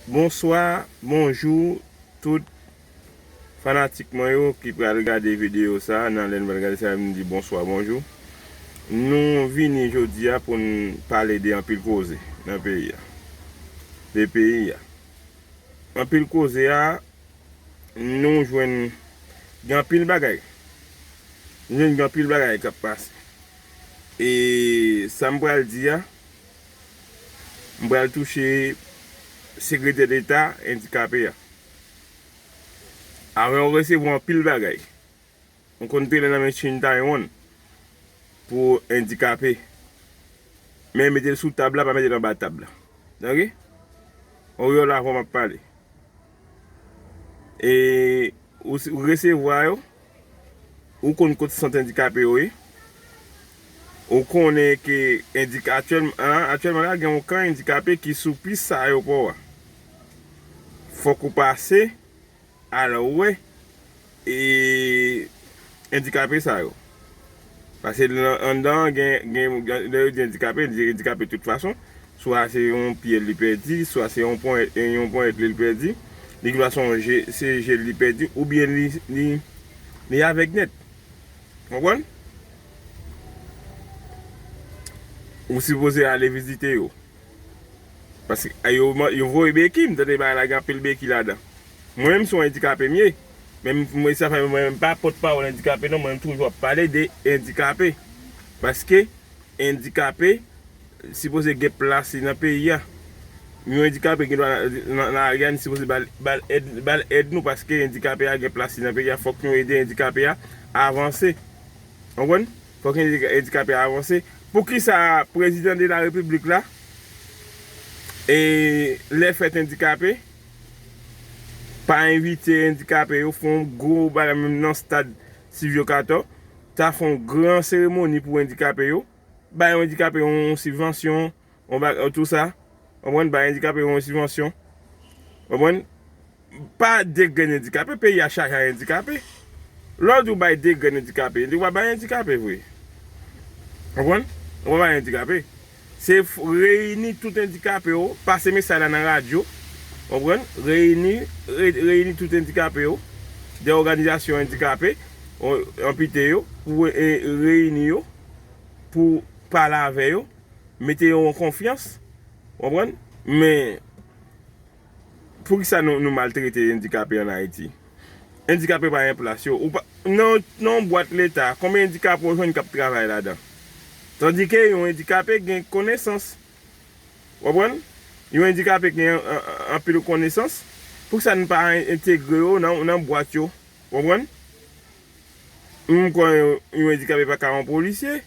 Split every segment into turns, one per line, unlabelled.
Bonswa bonjou tout fanatik mwen yo ki pral gade video sa nan lèn pral gade sa yo mdi bonswa bonjou nou vini jodia poun pale de anpil koze nan peyi a de peyi a anpil koze a nou jwenn gen anpil bagay nou jwenn gen anpil bagay kap pase e sam pral di a M pral touche Sekretè Deta Endikape a. Avan yo resevwa anpil bagay. M konn te ale nan men Chin Tae-won pou endikape. Men mete l sou tab la pa mete l anba tab la. Ok? Oryol avan m ap pale. E ou resevwa yo. Ou konn kot sant endikape yo ye. Ou konnen ke aktyèlman la gen yon kan endikape ki sou pis sa ayopò a. Fòk ou pase al wè E endikape sa yo? Pase anndan an gen, lè yo di endikape, yo di endikape tout fason. Swa se yon pye l li pèdi, swa se yon ponyèt li l pèdi, li gen dwa son je, se je l li pèdi oubyen li avèg nèt. Konprann? Ou sipoze ale vizite yo. Paske yo voye beki, m tande bagay la gen anpil beki ladan. Mwen menm son endikape m ye men mwen sa fè mwen menm pa pot pawol endikape non mwen menm toujou ap pale de endikape paske endikape sipoze gen plas li nan peyi a yon endikape gen dwa nan lari a nou sipoze bal èd nou paske endikape a gen plas li nan peyi a fok nou ede endikape a avanse ou konprann fok nou ede endikape a avanse poukisa prezidan de la repiblik la e lè fèt endikape. pa envite endikape yo fon gwo bagay menm nan stad Sylvio Cator ta fon gran seremoni pou endikape yo bay yon endikape yon sibvansyon yon bagay tout sa konprann bay endikape yo yon sibvansyon konprann pa degrenn endikape peyi a chaje ak endikape lè w di w bay degrenn endikape ou pa bay endikape vre konprann ou pa bay endikape. Se reyini tout endikape yo, pase mesay la nan radyo, konprann, reyini, reyini tout endikape yo, de òganizasyon endikape, anpite yo, pou reyini yo, pou pale avè yo, mete yo an konfyans, konprann, men, Poukisa nou maltrete endikape an Ayiti? Endikape pa gen plas yo. Nan yon bwat leta, konbyen endikape ou jwenn k ap travay ladan? Tandike yon endikape gen konesans. Ou konprann? Yon endikape gen anpil konesans. Poukisa n pa entegre yo nan bwat yo? Ou konprann? M kwè yon endikape pa ka yon polisye.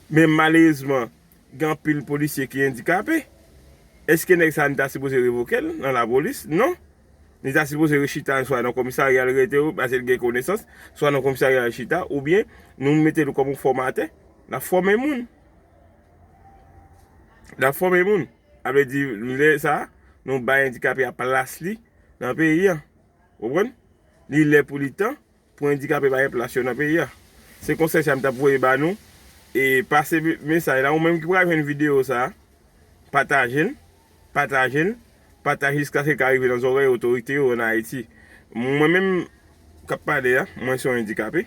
Men malerezman, Gen anpil polisye ki endikape. Eske nèg sa a nou ta sipoze revoke l nan lapolis? Non! Li ta sipoze rechita swa nan komisarya l rete yo pase l gen konesans, swa nan komisarya l chita oubyen nou mete l kòm yon fòmatè l ap fòme moun. L ap fòme moun. Sa vle di lè sa a nou bay endikape a plas li nan peyi an. Ou konprann? Li lè pou li tan. Pou endikape pa gen plas yo nan peyi a. Se konsèy sa m tap voye ba nou e pase mesaj la ou menm ki pral jwenn video sa pataje l pataje l pataje jiskaske l ka rive nan zòrèy otorite yo an ayiti mwen menm kap pale a mwen se yon endikape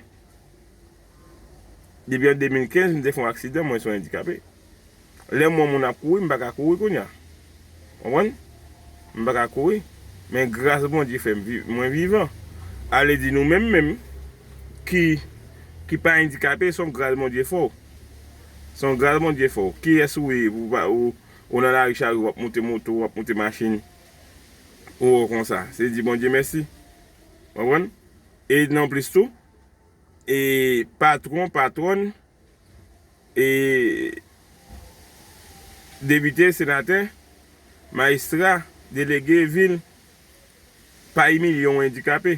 depi an 2015 m te fè yon aksidan mwen se yon endikape. Lè m wè moun ap kouri m pa ka kouri kounya. Konprann? M pa ka kouri. Men gras Bondye fè m viv, mwen vivan. Ale di nou menm menm ki ki pa endikape son gras Bondye fè w. Son gras Bondye fè w. Kiyès ou ye pou pa ou ou nan lari charyo w ap moute moto, w ap moute machin pou wè w konsa. Se di Bondye mèsi. Konprann? E nan plis tou e patwon, patwòn. Depite, senatè, majistra, delege vil pa imilye yon andikape.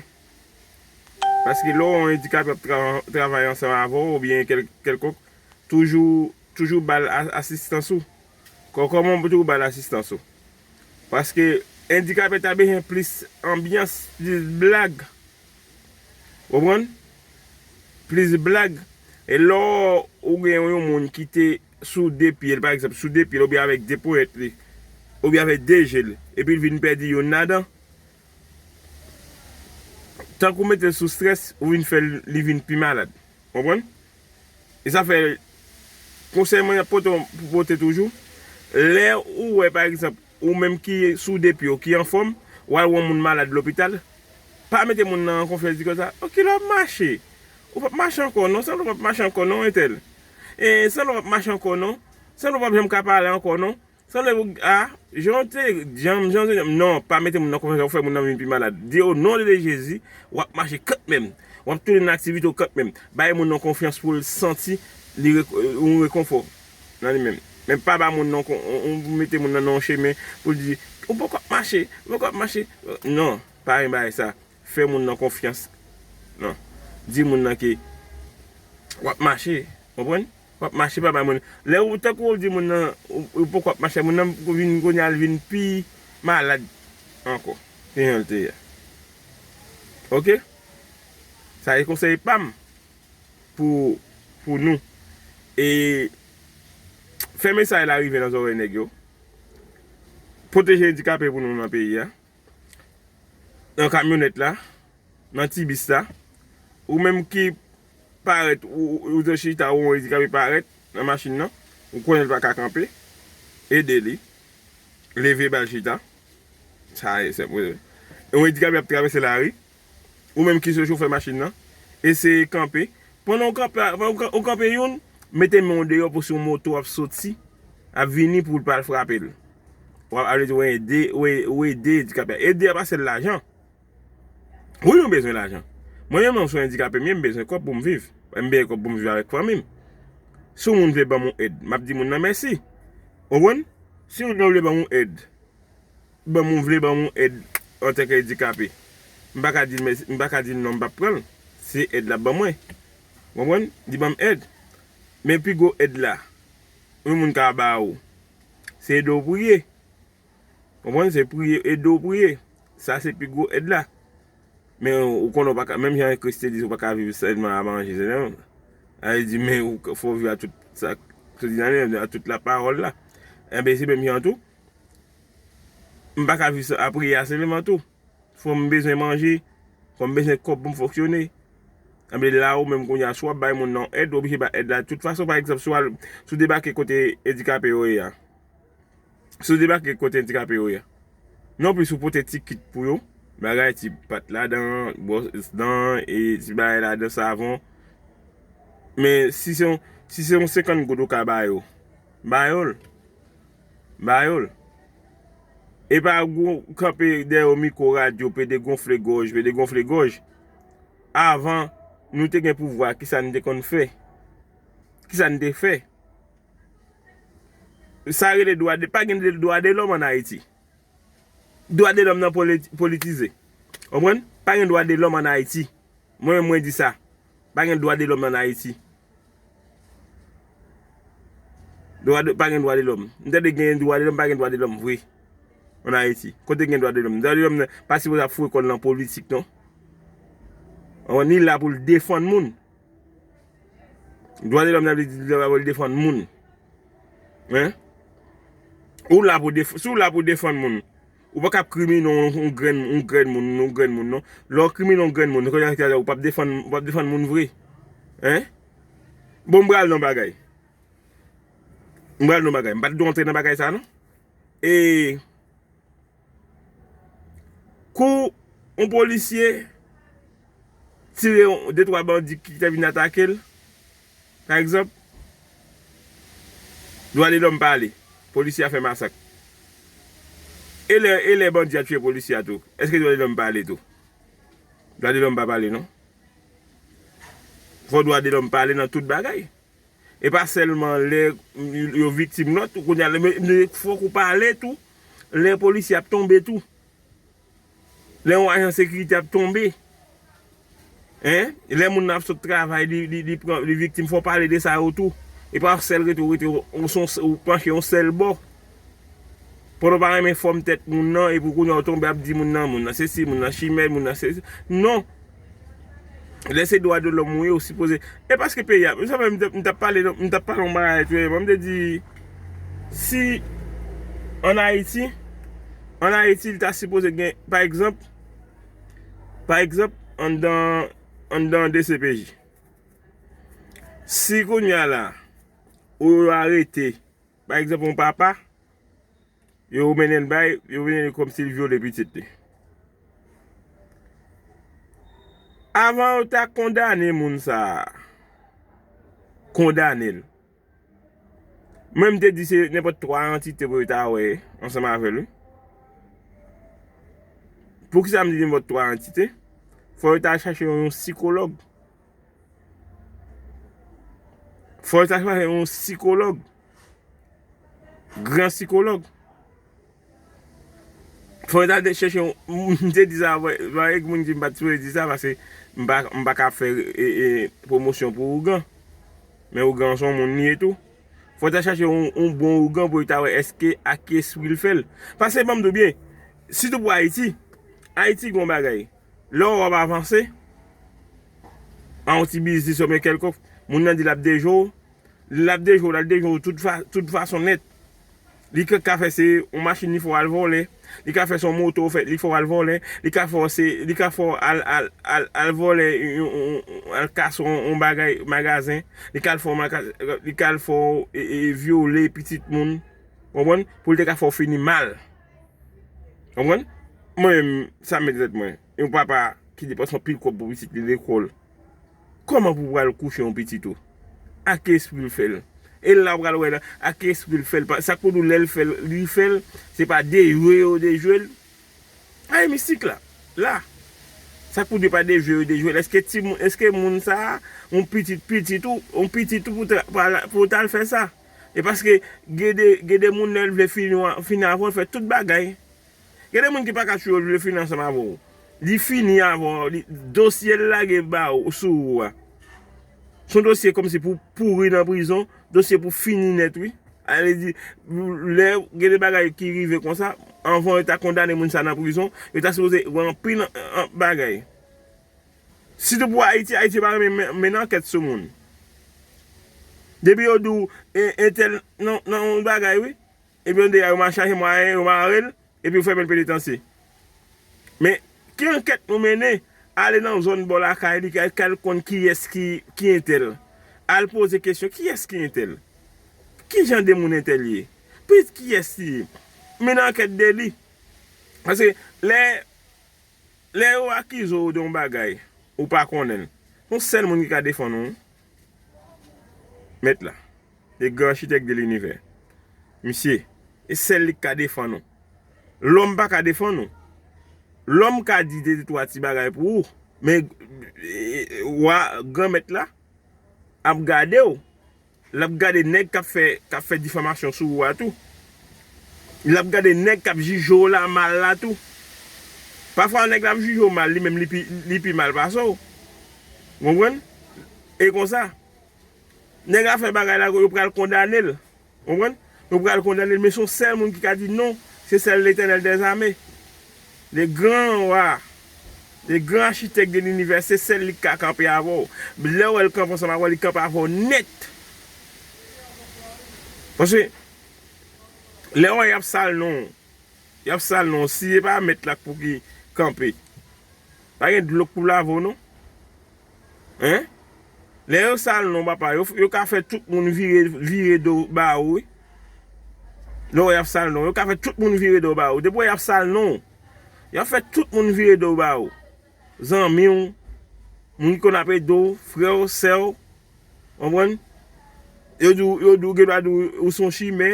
Paske lè yon andikape ap travay ansanm avè w oubyen kèlkonk, toujou ba l asistans ou. Kòman w pou ba l asistans ou? Paske andikape ta bezwen plis anbyans, plis blag. Ou konprann? Plis blag. E lò ou gen yon moun ki te sou de pye l, pa egzanp, sou de pye l oubyen avèk de ponyèt li, oubyen avèk de je l, epi l vin pèdi youn ladan, tank ou mete l sou strès, ou vin fè l li vin pi malad. Ou konprann? E sa fè konsèy mwen ap pote pou pote toujou, lè ou wè pa egzanp ou menm ki soude pye w, ki anfòm, ou al wè yon moun malad lopital, pa mete moun nan an konfyans di konsa, o kilè w ap mache? Ou p ap mache ankò non, sanble w p ap mache ankò non entèl. E sanble w p ap mache ankò non, sanble w p ap janm ka pale ankò non. Sanble pou a, jan w te, janm, jan w te janm, non, pa mete moun nan konfyans wap fè moun nan vin pi malad. Di o non de de Jezi, wap mache kantmenm, wap tounen nan aktivite w kantmenm. Bay moun nan konfyans pou l santi li re, yon rekonfò nan li menm. Men pa ba moun nan kon, yon pou mete moun nan nan yon chemen pou l di, ou poko ap mache, ou poko ap mache, non, pa gen bagay sa. Fè moun nan konfyans, non. Di moun nan ke wap mache, konprann? Wap mache pa bay moun. Lè ou tankou wap di moun nan ou poko ap mache moun nan vin kounya li vin pi malad ankò ke janl te ye. Ok sa se konsèy pam pou nou e fè mesaj la rive nan zòrèy nèg yo pwoteje andikape pou nou nan peyi a nan kamyonèt la nan ti bis la ou menm ki Parèt ou dwe chita ou andikape parèt nan machin nan ou konnen li pa ka kanpe ede li leve bal chita sa e senp wi yon andikape ap travèse lari ou menm ki se chofè machin nan eseye kanpe pandan ou kanpe youn mete men ou deyò pou si yon moto ap soti ap vini pou l pa al frape l wap ede andikape a ede a pa sèl lajan. Wi mwen bezwen lajan. Mwen menm lè m sou endikape m ye m bezwen kòb pou m viv. M bezwen kòb pou m viv avèk fanmi m. Si yon moun vle ban m yon èd, m ap di moun nan mèsi. Ou konprann? Si yon moun vle ban m yon èd, ban m yon vle ban m yon èd antanke endikape, m pa ka di l mèsi, m pa ka di l non m pap pran l. Se èd l ap ban mwen. Ou konprann? Li ban m èd. Men pi gwo èd la yon moun ka ba ou, se ede w priye. Konprann se priye ede w priye. Sa se pi gwo èd la. Men ou konnen ou pa ka menm jan Kris te di ou pa ka viv sèlman a manje sèlman. A li di men ou fò viv a tout sa Kris di nan li a, a tout la pawòl la. Enben se menm jan tou. M pa ka viv a priye a sèlman tou. Fò m bezwen manje, fò m bezwen kòb pou m fonksyone. Enben la ou menm kounye a si w ap bay moun nan èd ou oblije bay èd la tout fason. Pa egzanp si w al si w debake kote edikape yo ye a. Si w debake kote andikape yo ye. Non plis ou pote ti kit pou yo, bagay ti pat ladan, bwòs dan, e ti bagay ladan savon. Men si se yon, si se yon 50 goud ou ka ba yo, ba yo l. Ba yo l. E pa gou kanpe dèyè yon mikwo radyo, pede gonfle gòj, pede gonfle gòj. Avan nou te gen pouvwa, ki sa nou te konn fè? Ki sa nou te fè? Sa rele dwa de, pa gen dwa de lòm an Ayiti. Dwa de lòm nan politize. Konprann? Pa gen dwa de lòm an Ayiti. Mwen menm mwen di sa. Pa gen dwa de lòm an Ayiti. Pa gen dwa de lòm. M tande gen dwa de lòm, pa gen dwa de lòm vre. An Ayiti. Kote gen dwa de lòm? Dwa de lòm nan, pa sipoze ap foure kòl nan politik non. Konprann? Li la pou l defann moun. Dwa de lòm sa vle di dwa pou l defann moun. Hein? Ou la pou defann, si w la pou defann moun, ou pa ka ap krimine yon grenn, yon grenn moun, yon grenn moun non. Lè w krimine yon grenn moun, se kòmsi se ou pa ap defann, ou pa ap defann moun vre. Hein? Bon m pral nan bagay. M pral nan bagay. M pa t dwe antre nan bagay sa non. E. Kou yon polisye tire yon de twa bandi ki te vin atake l, pa egzanp, dwa de lòm pa ale, polisye a fè masak. E lè bandi a tiye polisye a tou, èske dwa de lòm pa ale tou? Dwa de lòm pa pale non. Fò dwa de lòm pale nan tout bagay. E pa sèlman lè yo viktim lòt tou kounye a men fòk ou pale tou lè polisye ap tonbe tou. Lè yon ajan sekirite ap tonbe. Lè moun nan ap sot travay li viktim fòk pale de sa yo tou. E pa sèl rete ou panche yon sèl bò. Pandan w pa renmen fòm tèt moun nan epi kounye a ou tonbe ap di moun nan moun nan sesi, moun nan chimè, moun nan sesi. Non! Lè se dwa de lòm ou ye ou sipoze. E paske peyi a. Msavè m t ap pale m t ap pale yon bagay dèyèman m te di si an Ayiti an Ayiti l ta sipoze gen pa egzanp pa egzanp anndan anndan dcpj. Si kounye a la ou arete. Pa egzanp yon papa, yo mennen l bay, yo mennen l kòmsi l vyole pitit li. Avan yo ta kondane moun sa a, kondane l. Mwen m te di se nenpòt 3 antite pou yo ta wè ansanm avè l wi. Poukisa m di nenpòt 3 antite? Fò yo ta chache yon sikològ. Fòl ta chwazi yon sikològ. Gran sikològ. Fòl ta de chèche yon... M te di sa avè. Vwa e gmoun ki m pa t sou e di sa vase. M pa ka fè promosyon pou ougan. Men ougan son moun li e tou. Fòl ta chèche yon bon ougan pou ta wè eske ak ki espri l fèl. Pase banm do byen. Sitou pou Ayiti. Ayiti gon bagay. Lè ou ap avanse, an yon ti biznis oubyen kèlkonk, moun nan di l ap deje w, l ap deje w, l ap deje w tout fason nèt. Li ka fè se yon machin li fè w al vòlè, li ka fè se yon moto li fè w al vòlè, li ka fè w se, li ka fè w al vòlè yon, al kase yon bagay magazen, li ka al fè w, li ka al fè w vyole pitit moun, konprann, pou l te ka fè w fini mal. Konprann? Mwen menm, sa mèt rèt mwen. Yon papa ki depanse anpil kòb pou pitit li lekòl, kòman pou pral kouche yon pitit ou? A ki espri l fè l? E la ou pral wè nan, a ki espri l fè l? Sa k pou di w lè l fè l, li fè l, se pa dejwe yo dejwe l? Bagay mistik la, la. Sa k pou di pa dejwe yo dejwe l? Eske timoun, eske moun sa a, yon pitit pitit ou, yon pitit ou pou ta, pou ta l fè sa? E paske gen de moun lè l vle fini avè w l fè tout bagay. Gen de moun ki pa ka tchouye w li vle fini ansanm avè w. Li fini avè w, dosye l lage ba ou sou ou a. S on dosye kòmsi pou pouri nan prizon, dosye pou fini nèt wi. A lè di lè gen de bagay ki rive konsa, anvan yo ta kondane moun sa nan prizon, yo ta sipoze wè anpil bagay. Si te pou ayiti ayiti pa renmen mennen ankèt sou moun depi yo di w entèl nan yon bagay wi epi yon dega yo ma chache mwayen yo mare l epi yo fèmen l penitansye men ki ankèt nou mennen ale nan zòn bò lakay li kay l konn kiyès ki entèl al poze kesyon kiyès ki entèl kijan de moun entèl ye pitit kiyès li ye mennen ankèt de li paske lè. Lè yo akize w de yon bagay ou pa konnen l, se yon sèl moun ki ka defann ou wi. Mèt la. Le grand architecte de l'univers. Misye, se sèl li ki ka defann ou. Lòm pa ka defann ou. Lòm ka di de twa ti bagay pou ou, men Wa, Granmèt la, ap gade w. Lap gade nèg kap fè kap fè difamasyon sou ou a tou. Lap gade nèg kap jije w la mal la tou. Pafwa nèg la ap jije w mal li menm li pi mal pase w. Ou konprann? E konsa. Nèg la fè bagay la yo pral kondane l. Ou konprann? Yo pral kondane l men son sèl moun ki ka di non se sèl Letènèl dèzame. Le gran Roi, le gran Architecte de l'univers se sèl li ki ka kanpe avè w. Lè w wè l kanpe ansanm avè w, li kanpe avè w nèt. Paske, lè w wè y ap sal non w, y ap sal non w, si se pa mèt la k pou ki kanpe, pa gen dlo k pou lave w non. Hein Lè yo sal non papa yo ka fè tout moun vire do ba ou wi Lè yap sal non yo ka fè tout moun vire do ba ou depi wè yap sal non yap fè tout moun vire do ba ou zanmi ou moun ki konn ap ede ou frè ou sè ou konprann yo di ou yo di ou gen dwa di ou ou son chimè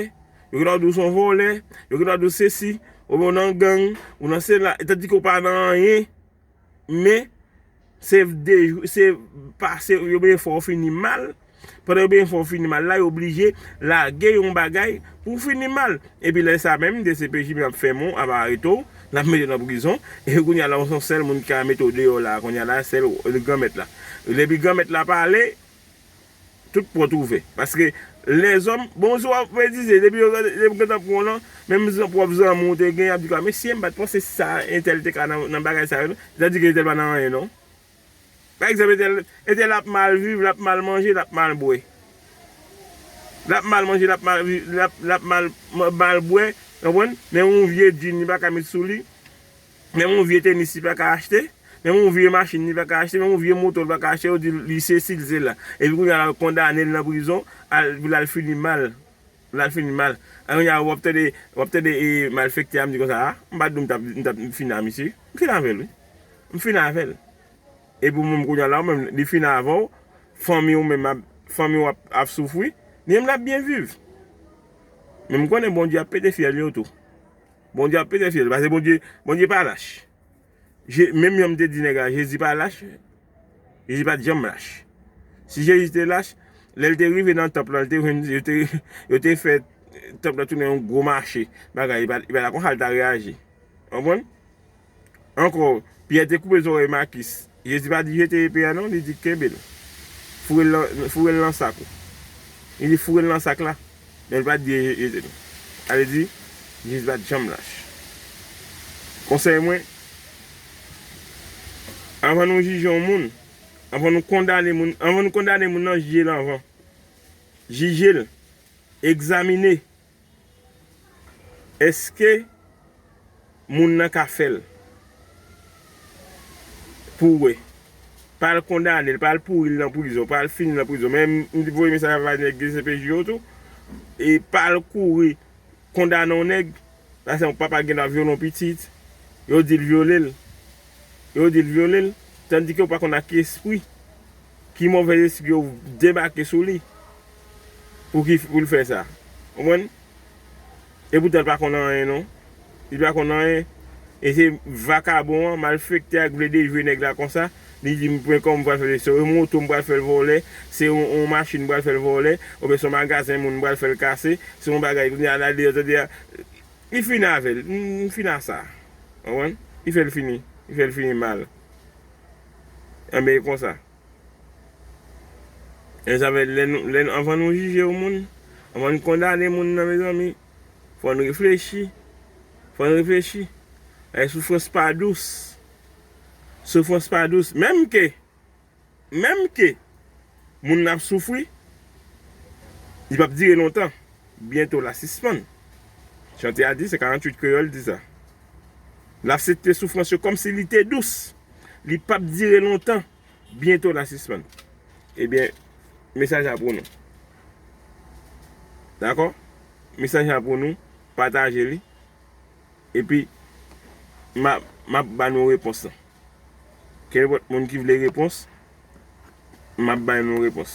yo gen dwa di ou son vòlè yo gen dwa di ou sesi ou nan gang ou nan sela tandike ou pa nan anyen. Men, se pase yo byen fè w fini mal, pandan yo byen fè w fini mal la, yo blije lage yon bagay pou w fini mal. Epi lè sa menm, dcpj menm ap fèmen w, ap arete w, l ap mete w nan prizon, epi kounye a la ou se yon sèl moun ki ka mete w deyò la a kounye a la a, sèl Granmèt la. Epi Granmèt la pale. Tout pòt ouvè. Paske lèzòm, bon si wap fè dize, depi yo gentan pran w nan, menm pwòp zanmi w te gen, yap di w a, mesye m pat panse sa entèl te ka nan bagay sa yo non, se ta di ke entèl pa nan anyen non. Pa egzanp entèl, entèl ap mal viv, lap mal manje, lap mal bwè. Lap mal manje, lap mal viv, lap mal bwè, konprann, men yon vye djinn li pa ka met sou li. Menm yon vye tenis li pa ka achte, menm yon vye machin li pa ka achte, menm yon vye moto li pa ka achte yo di li sesi li sela. Epi kounye a yo kondane l nan prizon pou l al fini mal, pou l al fini mal. Epi kounye a wap tande, wap tande malfekte a ap di konsa a, m pa di nou m tap fini a misye, m fini avè l wi. M fini avè l. Epi ou menm kounye a la ou menm li fini avè w, fanmi ou menm ap, fanmi w ap soufri, li menm lap byen viv. Men m konnen Bondye ap pete fyèl yo tou. Bondye ap pete fyèl. Pase Bondye, Bondye pa lach. Je, menm jan m te di nèg la, Jezi pa lach. Jezi pa t janm lach. Si Jezi te lach, lè l te rive nan tanp lan, l te jwenn, yo te, yo te fè tanp lan tounen yon gwo mache, bagay, li pa, li pa ta konn sa l ta reyaji. Ou konprann? Ankò, Pyè te koupe zòrèy Makis. Jezi pa di jete epe a non, li di kenbe l. Foure l nan sak ou. Li di foure l nan sak la, men li pa t di jete l. Sa vle di, Jezi pa t janm lach. Konsèy mwen, anvan nou jije yon moun, anvan nou kondane moun, anvan nou kondane moun nan, jije l anvan. Jije l, egzamine, Eske Moun nan ka fel Pou we. Pal kondanel pal pouril nan prizon pal fini nan prizon men m t voye mesaj avay neg dcpj yo tou e pal kouri kondane yon neg lase yon papa gen dwa vyole yon pitit yo dil vyolel yo dil vyolel tandike ou pa konn ak espri ki movez espri yo debake sou li. pou ki pou l fè sa konprann epoutan l pa konn anyen non li pa konn anyen e se vakabon an malfektè a k vle dejwe nèg la konsa li di m pran kòm pral fè se yon moto m pral fè l vòlè se yon machin m pral fè l vòlè oubyen se yon magazen moun m pral fè l kase se yon bagay kounye a l al deyò tande a li fini avè l m fini a sa konprann li fè l fini li fè l fini mal anben e konsa. Lè sa fè lè nou lè nou anvan nou jije yon moun anvan nou kondane moun nan mezanmi fò n reflechi fò n reflechi e soufrans pa dous soufrans pa dous menm ke menm ke moun nan ap soufri li pap dire lontan byento la sispann chante a di sa 48 kreyòl di sa. L ap sete soufrans yo kòm si li te dous. Li pap dire lontan, byento l a sispann. Ebyen, mesaj la pou nou. Dakò? Mesaj la pou nou, pataje li, epi m ap ba nou repons lan. Kenpòt moun ki vle repons, m ap ba nou repons.